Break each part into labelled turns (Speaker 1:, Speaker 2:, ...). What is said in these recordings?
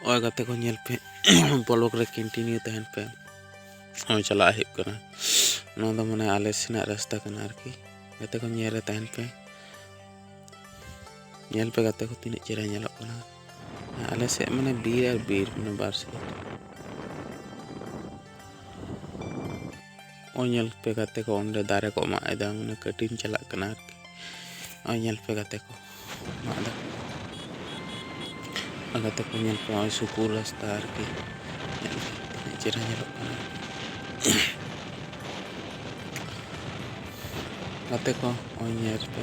Speaker 1: ᱱᱚᱜᱼᱚᱭ ᱜᱟᱛᱮ ᱠᱚ ᱧᱮᱞ ᱯᱮ ᱵᱞᱚᱜ ᱨᱮ ᱠᱚᱱᱴᱤᱱᱤᱭᱩ ᱛᱟᱦᱮᱱ ᱯᱮ ᱱᱚᱜᱼᱚᱭ ᱪᱟᱞᱟᱜ ᱦᱩᱭᱩᱜ ᱠᱟᱱᱟ ᱱᱚᱣᱟ ᱫᱚ ᱢᱟᱱᱮ ᱟᱞᱮ ᱥᱮᱱᱟᱜ ᱨᱟᱥᱛᱟ ᱠᱟᱱᱟ ᱟᱨᱠᱤ ᱜᱟᱛᱮ ᱠᱚ ᱧᱮᱞ ᱨᱮ ᱛᱟᱦᱮᱱ ᱯᱮ ᱧᱮᱞ ᱯᱮ ᱜᱟᱛᱮ ᱠᱚ ᱛᱤᱱᱟᱹᱜ ᱪᱮᱦᱨᱟ ᱧᱮᱞᱚᱜ ᱠᱟᱱᱟ ᱟᱞᱮ ᱥᱮᱫ ᱢᱟᱱᱮ ᱵᱤᱨ ᱟᱨ ᱵᱤᱨ ᱢᱟᱱᱮ ᱵᱟᱨ ᱥᱮᱫ ᱱᱚᱜᱼᱚᱭ ᱧᱮᱞ ᱯᱮ ᱜᱟᱛᱮ ᱠᱚ ᱚᱸᱰᱮ ᱫᱟᱨᱮ ᱠᱚ ᱢᱟᱜ ᱮᱫᱟ ᱢᱟᱱᱮ ᱠᱟᱹᱴᱤᱱ ᱪᱟᱞᱟᱜ ᱠᱟᱱᱟ ᱟᱨᱠᱤ ᱱᱚᱜᱼᱚᱭ ᱧᱮᱞ ᱯᱮ ᱜᱟᱛᱮ ᱠᱚ ᱢᱟᱜ ᱮᱫᱟ ᱟᱨ ᱜᱟᱛᱮ ᱠᱚ ᱧᱮᱞ ᱯᱮ ᱱᱚᱜᱼᱚᱭ ᱥᱩᱠᱩᱨ ᱨᱟᱥᱛᱟ ᱟᱨᱠᱤ ᱧᱮᱞ ᱯᱮ ᱛᱤᱱᱟᱹᱜ ᱪᱮᱦᱨᱟ ᱧᱮᱞᱚᱜ ᱠᱟᱱᱟ ᱜᱟᱛᱮ ᱠᱚ ᱱᱚᱜᱼᱚᱭ ᱧᱮᱞ ᱯᱮ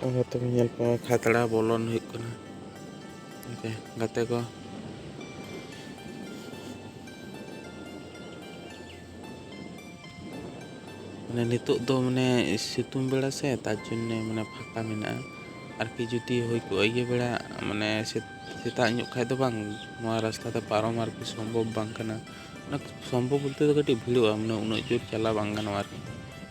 Speaker 1: ᱦᱚᱭᱛᱚ ᱧᱮᱞ ᱯᱟᱣᱟ ᱠᱷᱟᱛᱲᱟ ᱵᱚᱞᱚᱱ ᱦᱩᱭᱩᱜ ᱠᱟᱱᱟ ᱜᱚᱝᱠᱮ ᱜᱟᱛᱮ ᱠᱚ ᱢᱟᱱᱮ ᱱᱤᱛᱚᱜ ᱫᱚ ᱢᱟᱱᱮ ᱥᱤᱛᱩᱝ ᱵᱮᱲᱟ ᱥᱮ ᱛᱟᱨ ᱡᱚᱱᱱᱮ ᱢᱟᱱᱮ ᱯᱷᱟᱸᱠᱟ ᱢᱮᱱᱟᱜᱼᱟ ᱟᱨᱠᱤ ᱡᱩᱫᱤ ᱦᱩᱭ ᱠᱚᱜᱼᱟ ᱤᱭᱟᱹ ᱵᱮᱲᱟ ᱢᱟᱱᱮ ᱥᱮᱛᱟᱜ ᱧᱚᱜ ᱠᱷᱟᱱ ᱫᱚ ᱵᱟᱝ ᱱᱚᱣᱟ ᱨᱟᱥᱛᱟ ᱛᱮ ᱯᱟᱨᱚᱢ ᱟᱨᱠᱤ ᱥᱚᱢᱵᱷᱚᱵ ᱵᱟᱝ ᱠᱟᱱᱟ ᱥᱚᱢᱵᱷᱚᱵ ᱵᱚᱞᱛᱮ ᱫᱚ ᱠᱟᱹᱴᱤᱡ ᱵᱷᱤᱲᱚᱜᱼᱟ ᱢᱟᱱᱮ ᱩᱱᱟᱹᱜ ᱡᱳᱨ ᱪᱟᱞᱟᱣ ᱵᱟᱝ ᱜᱟᱱᱚᱜᱼᱟ ᱟᱨᱠᱤ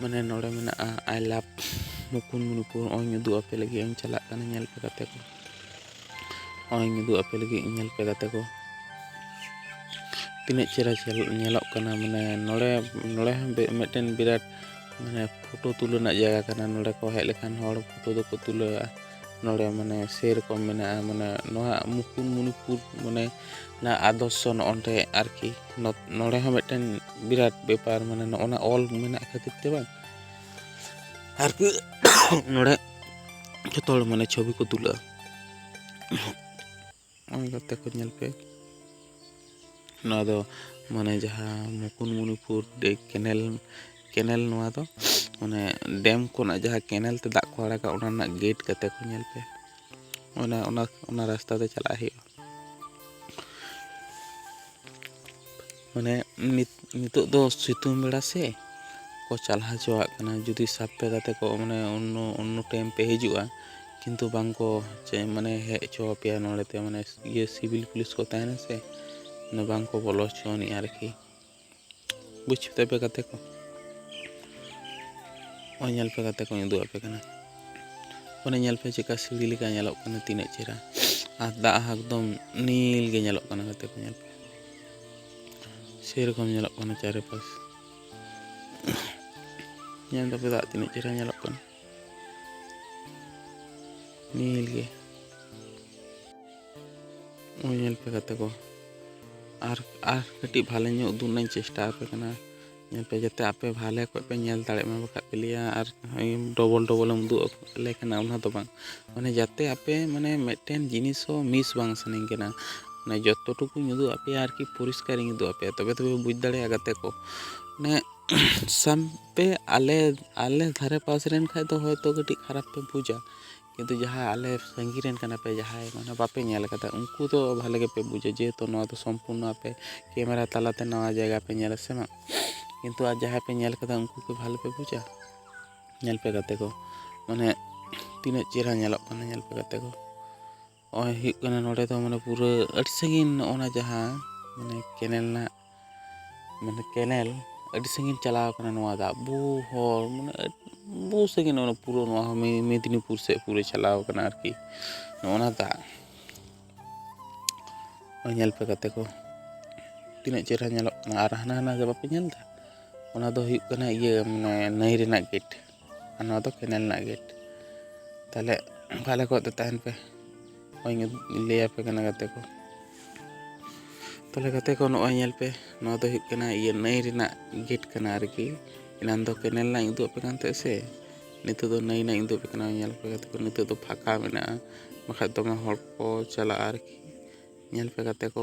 Speaker 1: ᱢᱟᱱᱮ ᱱᱚᱰᱮ ᱢᱮᱱᱟᱜᱼᱟ ᱟᱭ ᱞᱟᱵᱷ ᱢᱩᱠᱩᱴᱢᱩᱱᱤᱯᱩᱨ ᱱᱚᱜᱼᱚᱭ ᱩᱫᱩᱜ ᱟᱯᱮ ᱞᱟᱹᱜᱤᱫ ᱤᱧ ᱪᱟᱞᱟᱜ ᱠᱟᱱᱟ ᱧᱮᱞ ᱯᱮ ᱜᱟᱛᱮ ᱠᱚ ᱱᱚᱜᱼᱚᱭ ᱩᱫᱩᱜ ᱟᱯᱮ ᱞᱟᱹᱜᱤᱫ ᱧᱮᱞ ᱯᱮ ᱜᱟᱛᱮ ᱠᱚ ᱛᱤᱱᱟᱹᱜ ᱪᱮᱦᱨᱟ ᱧᱮᱞᱚᱜ ᱠᱟᱱᱟ ᱢᱟᱱᱮ ᱱᱚᱰᱮ ᱱᱚᱰᱮ ᱦᱚᱸ ᱢᱤᱫᱴᱮᱱ ᱵᱤᱨᱟᱴ ᱢᱟᱱᱮ ᱯᱷᱳᱴᱳ ᱛᱩᱞᱟᱹᱣ ᱨᱮᱱᱟᱜ ᱡᱟᱭᱜᱟ ᱠᱟᱱᱟ ᱱᱚᱰᱮ ᱠᱚ ᱦᱮᱡ ᱞᱮᱠᱷᱟᱱ ᱦᱚᱲ ᱯᱷᱳᱴᱳ ᱫᱚᱠᱚ ᱛᱩᱞᱟᱹᱣᱟ ᱱᱚᱰᱮ ᱢᱟᱱᱮ ᱥᱮᱨᱚᱠᱚᱢ ᱢᱮᱱᱟᱜᱼᱟ ᱢᱟᱱᱮ ᱱᱚᱣᱟ ᱢᱩᱠᱩᱴᱢᱩᱱᱤᱯᱩᱨ ᱢᱟᱱᱮ ᱚᱱᱟ ᱟᱫᱚᱨᱥᱚ ᱱᱚᱜᱼᱚᱸᱰᱮ ᱟᱨᱠᱤ ᱱᱚᱰᱮ ᱦᱚᱸ ᱢᱤᱫᱴᱮᱱ ᱵᱤᱨᱟᱴ ᱵᱮᱯᱟᱨ ᱢᱟᱱᱮ ᱱᱚᱜᱼᱚᱱᱟ ᱚᱞ ᱢᱮᱱᱟᱜ ᱠᱷᱟᱹᱛᱤᱨ ᱛᱮ ᱵᱟᱝ ᱟᱨᱠᱤ ᱱᱚᱰᱮ ᱡᱚᱛᱚ ᱦᱚᱲ ᱢᱟᱱᱮ ᱪᱷᱚᱵᱤ ᱠᱚ ᱛᱩᱞᱟᱹᱜᱼᱟ ᱱᱚᱜᱼᱚᱭ ᱜᱟᱛᱮ ᱠᱚ ᱧᱮᱞ ᱯᱮ ᱱᱚᱣᱟ ᱫᱚ ᱢᱟᱱᱮ ᱡᱟᱦᱟᱸ ᱢᱩᱠᱩᱴᱢᱩᱱᱤᱯᱩᱨ ᱠᱮᱱᱮᱞ ᱠᱮᱱᱮᱞ ᱱᱚᱣᱟ ᱫᱚ ᱢᱟᱱᱮ ᱰᱮᱢ ᱠᱷᱚᱱᱟᱜ ᱡᱟᱦᱟᱸ ᱠᱮᱱᱮᱞ ᱛᱮ ᱫᱟᱜ ᱠᱚ ᱟᱲᱟᱜᱟ ᱚᱱᱟ ᱨᱮᱱᱟᱜ ᱜᱮᱴ ᱜᱟᱛᱮ ᱠᱚ ᱧᱮᱞ ᱯᱮ ᱚᱱᱟ ᱚᱱᱟ ᱚᱱᱟ ᱨᱟᱥᱛᱟ ᱛᱮ ᱪᱟᱞᱟᱜ ᱦᱩᱭᱩᱜᱼᱟ ᱢᱟᱱᱮ ᱱᱤᱛ ᱱᱤᱛᱚᱜ ᱫᱚ ᱥᱤᱛᱩᱝ ᱵᱮᱲᱟ ᱥᱮ ᱠᱚ ᱪᱟᱞᱟᱣ ᱦᱚᱪᱚᱣᱟᱜ ᱠᱟᱱᱟ ᱡᱩᱫᱤ ᱥᱟᱵ ᱯᱮ ᱜᱟᱛᱮ ᱠᱚ ᱢᱟᱱᱮ ᱚᱱᱱᱚ ᱚᱱᱱᱚ ᱴᱟᱭᱤᱢ ᱯᱮ ᱦᱤᱡᱩᱜᱼᱟ ᱠᱤᱱᱛᱩ ᱵᱟᱝ ᱠᱚ ᱪᱮ ᱢᱟᱱᱮ ᱦᱮᱡ ᱦᱚᱪᱚ ᱟᱯᱮᱭᱟ ᱱᱚᱸᱰᱮ ᱛᱮ ᱢᱟᱱᱮ ᱤᱭᱟᱹ ᱥᱤᱵᱤᱞ ᱯᱩᱞᱤᱥ ᱠᱚ ᱛᱟᱦᱮᱱᱟ ᱥᱮ ᱢᱟᱱᱮ ᱵᱟᱝ ᱠᱚ ᱵᱚᱞᱚ ᱦᱚᱪᱚ ᱟᱹᱱᱤᱡᱼᱟ ᱟᱨᱠᱤ ᱵᱩᱡᱽ ᱠᱮᱫᱟ ᱯᱮ ᱜᱟᱛᱮ ᱠᱚ ᱱᱚᱜᱼᱚᱭ ᱧᱮᱞ ᱯᱮ ᱜᱟᱛᱮ ᱠᱚᱧ ᱩᱫᱩᱜ ᱟᱯᱮ ᱠᱟᱱᱟ ᱚᱱᱮ ᱧᱮᱞ ᱯᱮ ᱪᱮᱫᱠᱟ ᱥᱤᱲᱤ ᱞᱮᱠᱟ ᱧᱮᱞᱚᱜ ᱠᱟᱱᱟ ᱛᱤᱱᱟᱹᱜ ᱪᱮᱦᱨᱟ ᱟᱨ ᱫᱟᱜ ᱦᱚᱸ ᱮᱠᱫᱚᱢ ᱱᱤᱞ ᱜᱮ ᱧᱮᱞᱚᱜ ᱠᱟᱱᱟ ᱜᱟᱛᱮ ᱠᱚ ᱧᱮᱞ ᱯᱮ ᱥᱮᱨᱚᱠᱚᱢ ᱧᱮᱞᱚᱜ ᱠᱟᱱᱟ ᱪᱟᱨᱮᱯᱟᱥ ᱧᱮᱞ ᱫᱟᱯᱮ ᱫᱟᱜ ᱛᱤᱱᱟᱹᱜ ᱪᱮᱦᱨᱟ ᱧᱮᱞᱚᱜ ᱠᱟᱱᱟ ᱱᱤᱞ ᱜᱮ ᱧᱮᱞ ᱯᱮ ᱜᱟᱛᱮ ᱠᱚ ᱟᱨ ᱟᱨ ᱠᱟᱹᱴᱤᱡ ᱵᱷᱟᱞᱮ ᱧᱚᱜ ᱩᱫᱩᱜ ᱨᱮᱱᱟᱜ ᱤᱧ ᱪᱮᱥᱴᱟ ᱟᱯᱮ ᱠᱟᱱᱟ ᱧᱮᱞ ᱯᱮ ᱡᱟᱛᱮ ᱟᱯᱮ ᱵᱷᱟᱞᱮ ᱚᱠᱚᱡ ᱯᱮ ᱧᱮᱞ ᱫᱟᱲᱮᱜ ᱢᱟ ᱵᱟᱠᱷᱟᱡ ᱯᱮ ᱞᱟᱹᱭᱟ ᱟᱨ ᱰᱚᱵᱚᱞ ᱰᱚᱵᱚᱞ ᱮᱢ ᱩᱫᱩᱜ ᱟᱞᱮ ᱠᱟᱱᱟ ᱚᱱᱟ ᱫᱚ ᱵᱟᱝ ᱢᱟᱱᱮ ᱡᱟᱛᱮ ᱟᱯᱮ ᱢᱟᱱᱮ ᱢᱮᱫᱴᱮᱱ ᱡᱤᱱᱤᱥ ᱦᱚᱸ ᱢᱤᱥ ᱵᱟᱝ ᱥᱟᱱᱟᱧ ᱠᱟᱱᱟ ᱢᱟᱱᱮ ᱡᱚᱛᱚ ᱴᱩᱠᱩᱧ ᱩᱫᱩᱜ ᱟᱜ ᱯᱮᱭᱟ ᱟᱨᱠᱤ ᱯᱚᱨᱤᱥᱠᱟᱨᱤᱧ ᱩᱫᱩᱜ ᱟᱜ ᱯᱮᱭᱟ ᱛᱚᱵᱮ ᱛᱚᱯᱮ ᱵᱩᱡᱽ ᱫᱟᱲᱮᱭᱟᱜᱼᱟ ᱜᱟᱛᱮ ᱠᱚ ᱢᱟᱱᱮ ᱥᱟᱵ ᱯᱮ ᱟᱞᱮ ᱟᱞᱮ ᱫᱷᱟᱨᱮ ᱯᱟᱥ ᱨᱮᱱ ᱠᱷᱟᱡ ᱫᱚ ᱦᱚᱭᱛᱚ ᱠᱟᱹᱴᱤᱡ ᱠᱷᱟᱨᱟᱯ ᱯᱮ ᱵᱩᱡᱟ ᱠᱤᱱᱛᱩ ᱡᱟᱦᱟᱸ ᱟᱞᱮ ᱥᱟᱺᱜᱤᱧ ᱨᱮᱱ ᱠᱟᱱᱟ ᱯᱮ ᱡᱟᱦᱟᱸᱭ ᱢᱟᱱᱮ ᱵᱟᱯᱮ ᱧᱮᱞ ᱠᱟᱫᱟ ᱩᱱᱠᱩ ᱫᱚ ᱵᱷᱟᱞᱮ ᱜᱮᱯᱮ ᱵᱩᱡᱟ ᱡᱮᱦᱮᱛᱩ ᱱᱚᱣᱟ ᱫᱚ ᱥᱚᱢᱯᱩᱨᱱᱚ ᱟᱯᱮ ᱠᱮᱢᱮᱨᱟ ᱛᱟᱞᱟᱛᱮ ᱱᱟᱣᱟ ᱡᱟᱭᱜᱟ ᱯᱮ ᱧᱮᱞᱟ ᱥᱮ ᱵᱟᱝ ᱠᱤᱱᱛᱩ ᱟᱨ ᱡᱟᱦᱟᱸᱭ ᱯᱮ ᱧᱮᱞ ᱠᱟᱫᱟ ᱩᱱᱠᱩ ᱠᱤ ᱵᱷᱟᱞᱮ ᱯᱮ ᱵᱩᱡᱟ ᱧᱮᱞ ᱯᱮ ᱜᱟᱛᱮ ᱠᱚ ᱢᱟᱱᱮ ᱛᱤᱱᱟᱹᱜ ᱪᱮᱦᱨᱟ ᱧᱮᱞᱚᱜ ᱠᱟᱱᱟ ᱧᱮᱞ ᱯᱮ ᱜᱟᱛᱮ ᱠᱚ ᱱᱚᱜᱼᱚᱭ ᱦᱩᱭᱩᱜ ᱠᱟᱱᱟ ᱱᱚᱰᱮ ᱫᱚ ᱢᱟᱱᱮ ᱯᱩᱨᱟᱹ ᱟᱹᱰᱤ ᱥᱟᱺᱜᱤᱧ ᱱᱚᱜᱼᱚ ᱱᱟ ᱡᱟᱦᱟᱸ ᱢᱟᱱᱮ ᱠᱮᱱᱮᱞ ᱨᱮᱱᱟᱜ ᱢᱟᱱᱮ ᱠᱮᱱᱮᱞ ᱟᱹᱰᱤ ᱥᱟᱺᱜᱤᱧ ᱪᱟᱞᱟᱣ ᱠᱟᱱᱟ ᱱᱚᱣᱟ ᱫᱟᱜ ᱵᱚᱦᱩ ᱦᱚᱲ ᱢᱟᱱᱮ ᱵᱚᱦᱩ ᱥᱟᱺᱜᱤᱧ ᱱᱚᱜᱼᱚ ᱱᱟ ᱯᱩᱨᱟᱹ ᱱᱚᱣᱟ ᱦᱚᱸ ᱢᱮᱫᱽᱱᱤᱯᱩᱨ ᱥᱮᱫ ᱯᱩᱨᱟᱹ ᱪᱟᱞᱟᱣ ᱠᱟᱱᱟ ᱟᱨᱠᱤ ᱱᱚᱜᱼᱚ ᱱᱟ ᱫᱟᱜ ᱱᱚᱜᱼᱚᱭ ᱧᱮᱞ ᱯᱮ ᱜᱟᱛᱮ ᱠᱚ ᱛᱤᱱᱟᱹᱜ ᱪᱮᱦᱨᱟ ᱧᱮᱞᱚᱜ ᱠᱟᱱᱟ ᱟᱨ ᱦᱟᱱᱟ ᱦᱟᱱᱟ ᱫᱚ ᱵᱟᱯᱮ ᱧᱮᱞ ᱮᱫᱟ ᱚᱱᱟ ᱫᱚ ᱦᱩᱭᱩᱜ ᱠᱟᱱᱟ ᱤᱭᱟᱹ ᱢᱟᱱᱮ ᱱᱟᱹᱭ ᱨᱮᱱᱟᱜ ᱜᱮᱹᱴ ᱟᱨ ᱱᱚᱣᱟ ᱫᱚ ᱠᱮᱱᱮᱞ ᱨᱮᱱᱟᱜ ᱜᱮᱴ ᱛᱟᱦᱚᱞᱮ ᱵᱷᱟᱞᱮ ᱠᱚᱡ ᱫᱚ ᱛᱟᱦᱮᱱ ᱯᱮ ᱱᱚᱜᱼᱚᱭ ᱞᱟᱹᱭᱟᱯᱮ ᱠᱟᱱᱟ ᱜᱟᱛᱮ ᱠᱚ ᱛᱟᱦᱚᱞᱮ ᱜᱟᱛᱮ ᱠᱚ ᱱᱚᱜᱼᱚᱭ ᱧᱮᱞ ᱯᱮ ᱱᱚᱣᱟ ᱫᱚ ᱦᱩᱭᱩᱜ ᱠᱟᱱᱟ ᱤᱭᱟᱹ ᱱᱟᱹᱭ ᱨᱮᱱᱟᱜ ᱜᱮᱴ ᱠᱟᱱᱟ ᱟᱨᱠᱤ ᱮᱱᱟᱱ ᱫᱚ ᱠᱮᱱᱮᱞ ᱨᱮᱱᱟᱜ ᱤᱧ ᱩᱫᱩᱜ ᱟᱯᱮ ᱠᱟᱱ ᱛᱟᱦᱮᱸᱫ ᱥᱮ ᱱᱤᱛᱚᱜ ᱫᱚ ᱱᱟᱹᱭ ᱨᱮᱱᱟᱜ ᱤᱧ ᱩᱫᱩᱜ ᱟᱯᱮ ᱠᱟᱱᱟ ᱧᱮᱞ ᱯᱮ ᱜᱟᱛᱮ ᱠᱚ ᱱᱤᱛᱚᱜ ᱫᱚ ᱯᱷᱟᱸᱠᱟ ᱢᱮᱱᱟᱜᱼᱟ ᱵᱟᱠᱷᱟᱡ ᱫᱚᱢᱮ ᱦᱚᱲ ᱠᱚ ᱪᱟᱞᱟᱜᱼᱟ ᱟᱨᱠᱤ ᱧᱮᱞ ᱯᱮ ᱜᱟᱛᱮ ᱠᱚ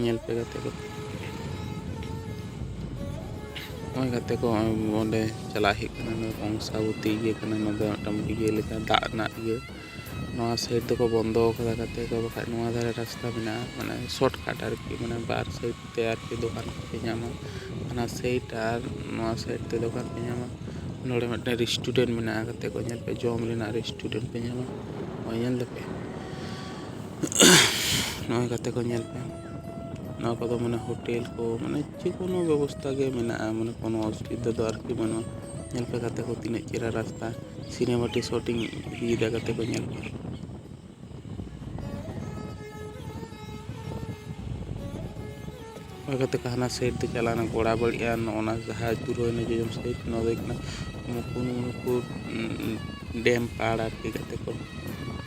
Speaker 1: ᱧᱮᱞ ᱯᱮ ᱜᱟᱛᱮ ᱠᱚ ᱱᱚᱜᱼᱚᱭ ᱜᱟᱛᱮ ᱠᱚ ᱱᱚᱜᱼᱚᱭ ᱚᱸᱰᱮ ᱪᱟᱞᱟᱜ ᱦᱩᱭᱩᱜ ᱠᱟᱱᱟ ᱱᱚᱣᱟ ᱠᱚᱝᱥᱟᱵᱚᱛᱤ ᱤᱭᱟᱹ ᱠᱟᱱᱟ ᱱᱚᱣᱟ ᱫᱚ ᱢᱤᱫᱴᱟᱝ ᱤᱭᱟᱹ ᱞᱮᱠᱟ ᱫᱟᱜ ᱨᱮᱱᱟᱜ ᱤᱭᱟᱹ ᱱᱚᱣᱟ ᱥᱟᱭᱤᱰ ᱫᱚᱠᱚ ᱵᱚᱱᱫᱚ ᱟᱠᱟᱫᱟ ᱜᱟᱛᱮ ᱠᱚ ᱵᱟᱠᱷᱟᱡ ᱱᱚᱣᱟ ᱫᱷᱟᱨᱮ ᱨᱟᱥᱛᱟ ᱢᱮᱱᱟᱜᱼᱟ ᱢᱟᱱᱮ ᱥᱚᱨᱴ ᱠᱟᱴ ᱟᱨᱠᱤ ᱢᱟᱱᱮ ᱵᱟᱨ ᱥᱟᱭᱤᱰ ᱛᱮ ᱟᱨᱠᱤ ᱫᱚᱠᱟᱱ ᱠᱚᱯᱮ ᱧᱟᱢᱟ ᱚᱱᱟ ᱥᱟᱭᱤᱰ ᱟᱨ ᱱᱚᱣᱟ ᱥᱟᱭᱤᱰ ᱛᱮ ᱫᱚᱠᱟᱱ ᱯᱮ ᱧᱟᱢᱟ ᱱᱚᱰᱮ ᱢᱤᱫᱴᱮᱱ ᱨᱮᱥᱴᱩᱨᱮᱱᱴ ᱢᱮᱱᱟᱜᱼᱟ ᱜᱟᱛᱮ ᱠᱚ ᱧᱮᱞ ᱯᱮ ᱡᱚᱢ ᱨᱮᱱᱟᱜ ᱨᱮᱥᱴᱩᱨᱮᱱᱴ ᱯᱮ ᱧᱟᱢᱟ ᱱᱚᱜᱼᱚᱭ ᱧᱮᱞ ᱫᱟᱯᱮ ᱱᱚᱜᱼᱚᱭ ᱜᱟᱛᱮ ᱠᱚ ᱧᱮᱞ ᱯᱮ ᱱᱚᱣᱟ ᱠᱚᱫᱚ ᱢᱟᱱᱮ ᱦᱳᱴᱮᱞ ᱠᱚ ᱢᱟᱱᱮ ᱡᱮ ᱠᱳᱱᱳ ᱵᱮᱵᱚᱥᱛᱷᱟ ᱜᱮ ᱢᱮᱱᱟᱜᱼᱟ ᱢᱟᱱᱮ ᱠᱳᱱᱳ ᱚᱥᱩᱵᱤᱫᱷᱟ ᱫᱚ ᱟᱨᱠᱤ ᱵᱟᱹᱱᱩᱜᱼᱟ ᱧᱮᱞ ᱯᱮ ᱜᱟᱛᱮ ᱠᱚ ᱛᱤᱱᱟᱹᱜ ᱪᱮᱦᱨᱟ ᱨᱟᱥᱛᱟ ᱥᱤᱱᱮᱢᱟᱴᱤᱠ ᱥᱩᱴᱤᱝ ᱤᱫᱤᱭᱮᱫᱟ ᱜᱟᱛᱮ ᱠᱚ ᱧᱮᱞ ᱯᱮ ᱚᱱᱟ ᱠᱟᱛᱮ ᱦᱟᱱᱟ ᱥᱟᱭᱤᱰ ᱛᱮ ᱪᱟᱞᱟᱣ ᱮᱱᱟ ᱜᱚᱲᱟ ᱵᱟᱹᱲᱤ ᱟᱨ ᱱᱚᱜᱼᱚᱱᱟ ᱡᱟᱦᱟᱸ ᱯᱩᱨᱟᱹᱭᱱᱟ ᱡᱚᱡᱚᱢ ᱥᱟᱭᱤᱰ ᱱᱚᱣᱟ ᱫᱚ ᱦᱩᱭᱩᱜ ᱠᱟᱱᱟ ᱢᱩᱠᱩᱴᱢᱩᱱᱤᱯᱩᱨ ᱰᱮᱢ ᱯᱟᱲ ᱟᱨᱠᱤ ᱜᱟᱛᱮ ᱠᱚ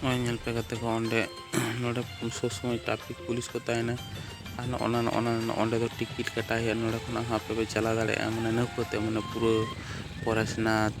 Speaker 1: ᱱᱚᱜᱼᱚᱭ ᱧᱮᱞ ᱯᱮ ᱜᱟᱛᱮ ᱠᱚ ᱚᱸᱰᱮ ᱱᱚᱰᱮ ᱥᱚᱵ ᱥᱚᱢᱚᱭ ᱴᱨᱟᱯᱷᱤᱠ ᱯᱩᱞᱤᱥ ᱠᱚ ᱛᱟᱦᱮᱱᱟ ᱟᱨ ᱱᱚᱜᱼᱚ ᱱᱟ ᱱᱚᱜᱼᱚ ᱱᱟ ᱱᱚᱸᱰᱮ ᱫᱚ ᱴᱤᱠᱤᱴ ᱠᱟᱴᱟᱣ ᱦᱩᱭᱩᱜᱼᱟ ᱱᱚᱰᱮ ᱠᱷᱚᱱᱟᱜ ᱦᱚᱸ ᱟᱯᱮ ᱯᱮ ᱪᱟᱞᱟᱣ ᱫᱟᱲᱮᱭᱟᱜᱼᱟ ᱢᱟᱱᱮ ᱱᱟᱹᱣᱠᱟᱹ ᱛᱮ ᱢᱟᱱᱮ ᱯᱩᱨᱟᱹ ᱯᱚᱨᱮᱥᱱᱟᱛᱷ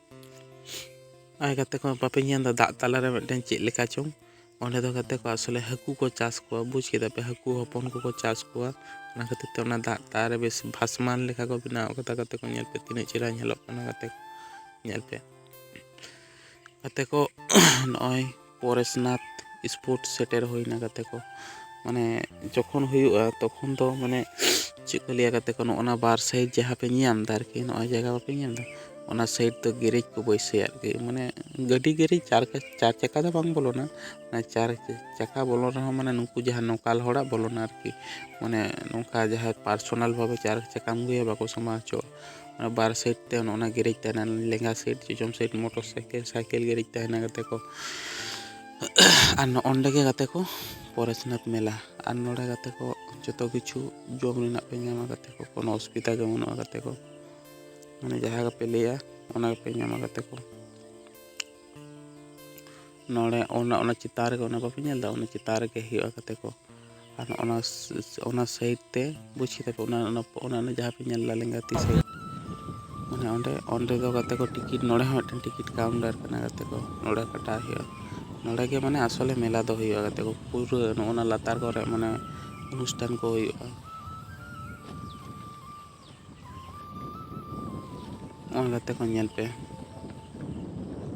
Speaker 1: ᱟᱨ ᱜᱟᱛᱮ ᱠᱚ ᱵᱟᱯᱮ ᱧᱮᱞ ᱮᱫᱟ ᱫᱟᱜ ᱛᱟᱞᱟᱨᱮ ᱢᱤᱫᱴᱮᱱ ᱪᱮᱫ ᱞᱮᱠᱟ ᱪᱚᱝ ᱚᱸᱰᱮ ᱫᱚ ᱜᱟᱛᱮ ᱠᱚ ᱟᱥᱚᱞᱮ ᱦᱟᱹᱠᱩ ᱠᱚ ᱪᱟᱥ ᱠᱚᱣᱟ ᱵᱩᱡᱽ ᱠᱮᱫᱟ ᱯᱮ ᱦᱟᱹᱠᱩ ᱦᱚᱯᱚᱱ ᱠᱚᱠᱚ ᱪᱟᱥ ᱠᱚᱣᱟ ᱚᱱᱟ ᱠᱷᱟᱹᱛᱤᱨ ᱛᱮ ᱚᱱᱟ ᱫᱟᱜ ᱛᱟᱞᱟᱨᱮ ᱵᱮᱥ ᱵᱷᱟᱥᱢᱟᱱ ᱞᱮᱠᱟ ᱠᱚ ᱵᱮᱱᱟᱣ ᱠᱟᱫᱟ ᱜᱟᱛᱮ ᱠᱚ ᱧᱮᱞ ᱯᱮ ᱛᱤᱱᱟᱹᱜ ᱪᱮᱦᱨᱟ ᱧᱮᱞᱚᱜ ᱠᱟᱱᱟ ᱜᱟᱛᱮ ᱠᱚ ᱧᱮᱞ ᱯᱮ ᱜᱟᱛᱮ ᱠᱚ ᱱᱚᱜᱼᱚᱭ ᱯᱚᱨᱮᱥᱱᱟᱛᱷ ᱥᱯᱳᱨᱴ ᱥᱮᱴᱮᱨ ᱦᱩᱭᱱᱟ ᱜᱟᱛᱮ ᱠᱚ ᱢᱟᱱᱮ ᱡᱚᱠᱷᱚᱱ ᱦᱩᱭᱩᱜᱼᱟ ᱛᱚᱠᱷᱚᱱ ᱫᱚ ᱢᱟᱱᱮ ᱪᱮᱫ ᱠᱚ ᱞᱟᱹᱭᱟ ᱜᱟᱛᱮ ᱠᱚ ᱱᱚᱜᱼᱚ ᱱᱟ ᱵᱟᱨ ᱥᱟᱭᱤᱰ ᱡᱟᱦᱟᱸ ᱯᱮ ᱧᱮᱞ ᱧᱟᱢᱫᱟ ᱟᱨᱠᱤ ᱱᱚᱜᱼᱚᱭ ᱡᱟᱭᱜᱟ ᱵᱟᱯᱮ ᱧᱮᱞ ᱧᱟᱢᱫᱟ ᱚᱱᱟ ᱥᱟᱭᱤᱰ ᱫᱚ ᱜᱮᱨᱮᱡᱽ ᱠᱚ ᱵᱟᱹᱭᱥᱟᱹᱣᱟ ᱟᱨᱠᱤ ᱢᱟᱱᱮ ᱜᱟᱹᱰᱤ ᱜᱮᱨᱮᱡᱽ ᱪᱟᱨ ᱪᱟᱨ ᱪᱟᱠᱟ ᱫᱚ ᱵᱟᱝ ᱵᱚᱞᱚᱱᱟ ᱪᱟᱨ ᱪᱟᱠᱟ ᱵᱚᱞᱚᱱ ᱨᱮᱦᱚᱸ ᱢᱟᱱᱮ ᱱᱩᱠᱩ ᱡᱟᱦᱟᱸ ᱱᱚᱠᱟᱞ ᱦᱚᱲᱟᱜ ᱵᱚᱞᱚᱱᱟ ᱟᱨᱠᱤ ᱢᱟᱱᱮ ᱱᱚᱝᱠᱟ ᱡᱟᱦᱟᱸᱭ ᱯᱟᱨᱥᱳᱱᱟᱞ ᱵᱷᱟᱵᱮ ᱪᱟᱨ ᱪᱟᱠᱟᱢ ᱟᱹᱜᱩᱭᱟ ᱵᱟᱠᱚ ᱥᱟᱢᱵᱟᱣ ᱦᱚᱪᱚᱣᱟᱜᱼᱟ ᱚᱱᱟ ᱵᱟᱨ ᱥᱟᱭᱤᱰ ᱛᱮ ᱚᱱᱮ ᱚᱱᱟ ᱜᱮᱨᱮᱡᱽ ᱛᱟᱦᱮᱱᱟ ᱞᱮᱸᱜᱟ ᱥᱟᱭᱤᱰ ᱡᱚᱡᱚᱢ side motorcycle cycle garage ᱛᱟᱦᱮᱱᱟ ᱜᱟᱛᱮ ᱠᱚ ᱟᱨ ᱱᱚᱜᱼᱚ ᱱᱚᱰᱮ ᱜᱮ ᱜᱟᱛᱮ ᱠᱚ ᱯᱚᱨᱮᱥᱱᱟᱛᱷ ᱢᱮᱞᱟ ᱟᱨ ᱱᱚᱰᱮ ᱜᱟᱛᱮ ᱠᱚ ᱡᱚᱛᱚ ᱠᱤᱪᱷᱩ ᱡᱚᱢ ᱨᱮᱱᱟᱜ ᱯᱮ ᱧᱟᱢᱟ ᱜᱟᱛᱮ ᱠᱚ ᱠᱳᱱᱳ ᱚᱥᱩᱵᱤᱫᱷᱟ ᱜᱮ ᱵᱟᱹᱱᱩᱜᱼᱟ ᱜᱟᱛᱮ ᱠᱚ ᱢᱟᱱᱮ ᱡᱟᱦᱟᱸ ᱜᱮᱯᱮ ᱞᱟᱹᱭᱟ ᱚᱱᱟ ᱜᱮᱯᱮ ᱧᱟᱢᱟ ᱜᱟᱛᱮ ᱠᱚ ᱱᱚᱰᱮ ᱚᱱᱟ ᱚᱱᱟ ᱪᱮᱛᱟᱱ ᱨᱮᱜᱮ ᱚᱱᱟ ᱵᱟᱯᱮ ᱧᱮᱞ ᱮᱫᱟ ᱚᱱᱟ ᱪᱮᱛᱟᱱ ᱨᱮᱜᱮ ᱦᱩᱭᱩᱜᱼᱟ ᱜᱟᱛᱮ ᱠᱚ ᱟᱨ ᱚᱱᱟ ᱚᱱᱟ ᱥᱟᱭᱤᱰ ᱛᱮ ᱵᱩᱡᱽ ᱠᱮᱫᱟ ᱯᱮ ᱚᱱᱟ ᱚᱱᱟ ᱚᱱᱟ ᱡᱟᱦᱟᱸ ᱯᱮ ᱧᱮᱞ ᱮᱫᱟ ᱞᱮᱸᱜᱟ ᱛᱤ ᱥᱟᱭᱤᱰ ᱢᱟᱱᱮ ᱚᱸᱰᱮ ᱚᱸᱰᱮ ᱫᱚ ᱜᱟᱛᱮ ᱠᱚ ᱴᱤᱠᱤᱴ ᱱᱚᱰᱮ ᱦᱚᱸ ᱢᱤᱫᱴᱮᱱ ᱴᱤᱠᱤᱴ ᱠᱟᱣᱩᱱᱴᱟᱨ ᱠᱟᱱᱟ ᱜᱟᱛᱮ ᱠᱚ ᱱᱚᱰᱮ ᱠᱟᱴᱟᱣ ᱦᱩᱭᱩᱜᱼᱟ ᱱᱚᱰᱮ ᱜᱮ ᱢᱟᱱᱮ ᱟᱥᱚᱞᱮ ᱢᱮᱞᱟ ᱫᱚ ᱦᱩᱭᱩᱜᱼᱟ ᱜᱟᱛᱮ ᱠᱚ ᱯᱩᱨᱟᱹ ᱱᱚᱜᱼᱚ ᱱᱟ ᱞᱟᱛᱟᱨ ᱠᱚᱨᱮ ᱢᱟᱱᱮ ᱚᱱᱩᱥᱴᱷᱟᱱ ᱠᱚ ᱦᱩᱭᱩᱜᱼᱟ ᱱᱚᱜᱼᱚᱭ ᱜᱟᱛᱮ ᱠᱚ ᱧᱮᱞ ᱯᱮ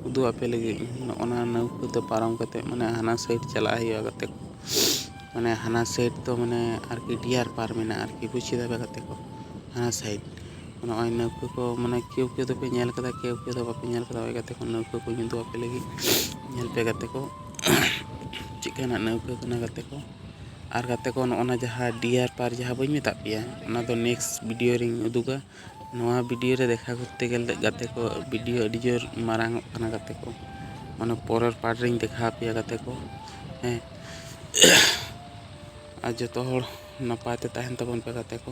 Speaker 1: ᱩᱫᱩᱜ ᱟᱯᱮ ᱞᱟᱹᱜᱤᱫ ᱱᱚᱜᱼᱚᱱᱟ ᱱᱟᱹᱣᱠᱟᱹ ᱛᱮ ᱯᱟᱨᱚᱢ ᱠᱟᱛᱮ ᱢᱟᱱᱮ ᱦᱟᱱᱟ ᱥᱟᱭᱤᱰ ᱪᱟᱞᱟᱜ ᱦᱩᱭᱩᱜᱼᱟ ᱜᱟᱛᱮ ᱠᱚ ᱢᱟᱱᱮ ᱦᱟᱱᱟ ᱥᱟᱭᱤᱰ ᱫᱚ ᱢᱟᱱᱮ ᱟᱨᱠᱤ ᱰᱤᱭᱟᱨ ᱯᱟᱨᱠ ᱢᱮᱱᱟᱜᱼᱟ ᱟᱨᱠᱤ ᱵᱩᱡᱽ ᱠᱮᱫᱟ ᱯᱮ ᱜᱟᱛᱮ ᱠᱚ ᱦᱟᱱᱟ ᱥᱟᱭᱤᱰ ᱱᱚᱜᱼᱚᱭ ᱱᱟᱹᱣᱠᱟᱹ ᱠᱚ ᱢᱟᱱᱮ ᱠᱮᱣ ᱠᱮᱣ ᱫᱚᱯᱮ ᱧᱮᱞ ᱠᱟᱫᱟ ᱠᱮᱣ ᱠᱮᱣ ᱫᱚ ᱵᱟᱯᱮ ᱧᱮᱞ ᱠᱟᱫᱟ ᱦᱳᱭ ᱜᱟᱛᱮ ᱠᱚ ᱱᱟᱹᱣᱠᱟᱹ ᱠᱚᱧ ᱩᱫᱩᱜ ᱟᱯᱮ ᱞᱟᱹᱜᱤᱫ ᱧᱮᱞ ᱯᱮ ᱜᱟᱛᱮ ᱠᱚ ᱪᱮᱫ ᱞᱮᱠᱟᱱᱟᱜ ᱱᱟᱹᱣᱠᱟᱹ ᱠᱟᱱᱟ ᱜᱟᱛᱮ ᱠᱚ ᱟᱨ ᱜᱟᱛᱮ ᱠᱚ ᱱᱚᱜᱼᱚ ᱱᱟ ᱡᱟᱦᱟᱸ ᱰᱤᱭᱟᱨ ᱯᱟᱨᱠ ᱡᱟᱦᱟᱸ ᱵᱟᱹᱧ ᱢᱮᱛᱟᱫ ᱯᱮᱭᱟ ᱚᱱᱟ ᱫᱚ ᱱᱮᱠᱥᱴ ᱵᱷᱤᱰᱤᱭᱳ ᱨᱤᱧ ᱩᱫᱩᱜᱟ ᱱᱚᱣᱟ ᱵᱷᱤᱰᱤᱭᱳ ᱨᱮ ᱫᱮᱠᱷᱟ ᱠᱚᱨᱛᱮ ᱜᱮᱞᱮ ᱜᱟᱛᱮ ᱠᱚ ᱵᱷᱤᱰᱤᱭᱳ ᱟᱹᱰᱤ ᱡᱳᱨ ᱢᱟᱨᱟᱝ ᱚᱜ ᱠᱟᱱᱟ ᱜᱟᱛᱮ ᱠᱚ ᱢᱟᱱᱮ ᱯᱚᱨᱮᱨ ᱯᱟᱨᱴ ᱨᱤᱧ ᱫᱮᱠᱷᱟ ᱟᱯᱮᱭᱟ ᱜᱟᱛᱮ ᱠᱚ ᱦᱮᱸ ᱟᱨ ᱡᱚᱛᱚ ᱦᱚᱲ ᱱᱟᱯᱟᱭ ᱛᱮ ᱛᱟᱦᱮᱱ ᱛᱟᱵᱚᱱ ᱯᱮ ᱜᱟᱛᱮ ᱠᱚ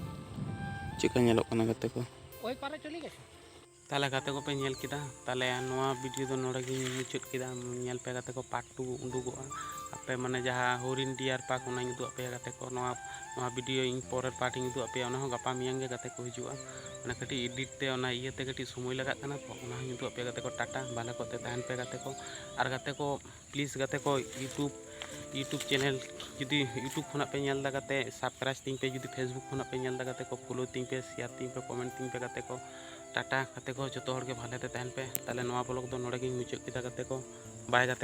Speaker 1: ᱪᱮᱫᱠᱟ ᱧᱮᱞᱚᱜ ᱠᱟᱱᱟ ᱜᱟᱛᱮ ᱠᱚ ᱛᱟᱦᱚᱞᱮ ᱜᱟᱛᱮ ᱠᱚᱯᱮ ᱧᱮᱞ ᱠᱮᱫᱟ ᱛᱟᱦᱚᱞᱮ ᱱᱚᱣᱟ ᱵᱷᱤᱰᱤᱭᱳ ᱫᱚ ᱱᱚᱰᱮ ᱜᱤᱧ ᱢᱩᱪᱟᱹᱫ ᱠᱮᱫᱟ ᱧᱮᱞ ᱯᱮ ᱜᱟᱛᱮ ᱠᱚ ᱯᱟᱨᱴ ᱴᱩ ᱩᱰᱩᱠᱚᱜᱼᱟ ᱟᱯᱮ ᱢᱟᱱᱮ ᱡᱟᱦᱟᱸ ᱦᱚᱨᱤᱱ ᱰᱤᱭᱟᱨ ᱯᱟᱨᱠ ᱚᱱᱟᱧ ᱩᱫᱩᱜ ᱟᱯᱮᱭᱟ ᱜᱟᱛᱮ ᱠᱚ ᱱᱚᱣᱟ ᱱᱚᱣᱟ ᱵᱷᱤᱰᱤᱭᱳ ᱤᱧ ᱯᱚᱨᱮᱨ ᱯᱟᱨᱴ ᱤᱧ ᱩᱫᱩᱜ ᱟᱯᱮᱭᱟ ᱚᱱᱟ ᱦᱚᱸ ᱜᱟᱯᱟ ᱢᱮᱭᱟᱝ ᱜᱮ ᱜᱟᱛᱮ ᱠᱚ ᱦᱤᱡᱩᱜᱼᱟ ᱚᱱᱟ ᱠᱟᱹᱴᱤᱡ ᱮᱰᱤᱴ ᱛᱮ ᱚᱱᱟ ᱤᱭᱟᱹᱛᱮ ᱠᱟᱹᱴᱤᱡ ᱥᱚᱢᱚᱭ ᱞᱟᱜᱟᱜ ᱠᱟᱱᱟ ᱛᱚ ᱚᱱᱟ ᱦᱚᱸᱧ ᱩᱫᱩᱜ ᱟᱯᱮᱭᱟ ᱜᱟᱛᱮ ᱠᱚ ᱴᱟᱴᱟ ᱵᱷᱟᱞᱮ ᱠᱚᱛᱮ ᱛᱟᱦᱮᱱ ᱯᱮ ᱜᱟᱛᱮ ᱠᱚ ᱟᱨ ᱜᱟᱛᱮ ᱠᱚ ᱯᱞᱤᱡᱽ ᱜᱟᱛᱮ ᱠᱚ ᱤᱭᱩᱴᱩᱵᱽ ᱤᱭᱩᱴᱩᱵᱽ ᱪᱮᱱᱮᱞ ᱡᱩᱫᱤ ᱤᱭᱩᱴᱩᱵᱽ ᱠᱷᱚᱱᱟᱜ ᱯᱮ ᱧᱮᱞ ᱮᱫᱟ ᱜᱟᱛᱮ ᱥᱟᱵᱥᱠᱨᱟᱭᱤᱵᱽ ᱛᱤᱧ ᱯᱮ ᱡᱩᱫᱤ ᱯᱷᱮᱥᱵᱩᱠ ᱠᱷᱚᱱᱟᱜ ᱯᱮ ᱧᱮᱞ ᱮᱫᱟ ᱜᱟᱛᱮ ᱠᱚ ᱯᱷᱳᱞᱳ ᱛᱤᱧ ᱯᱮ ᱥᱮᱭᱟᱨ ᱛᱤᱧ ᱯᱮ ᱠᱚᱢᱮᱱᱴ ᱛᱤᱧ ᱯᱮ ᱜᱟᱛᱮ ᱠᱚ ᱴᱟᱴᱟ ᱜᱟᱛᱮ ᱠᱚ ᱡᱚᱛᱚ ᱦᱚᱲ ᱜᱮ ᱵᱷᱟᱞᱮ ᱛᱮ ᱛᱟᱦᱮᱱ ᱯᱮ ᱛᱟᱦᱚᱞᱮ ᱱᱚᱣᱟ ᱵᱞᱚᱜᱽ ᱫᱚ ᱱᱚᱰᱮ ᱜᱤᱧ ᱢᱩᱪᱟᱹᱫ ᱠᱮᱫᱟ ᱜᱟᱛᱮ ᱠᱚ ᱵᱟᱭ ᱜᱟᱛᱮ ᱠᱚ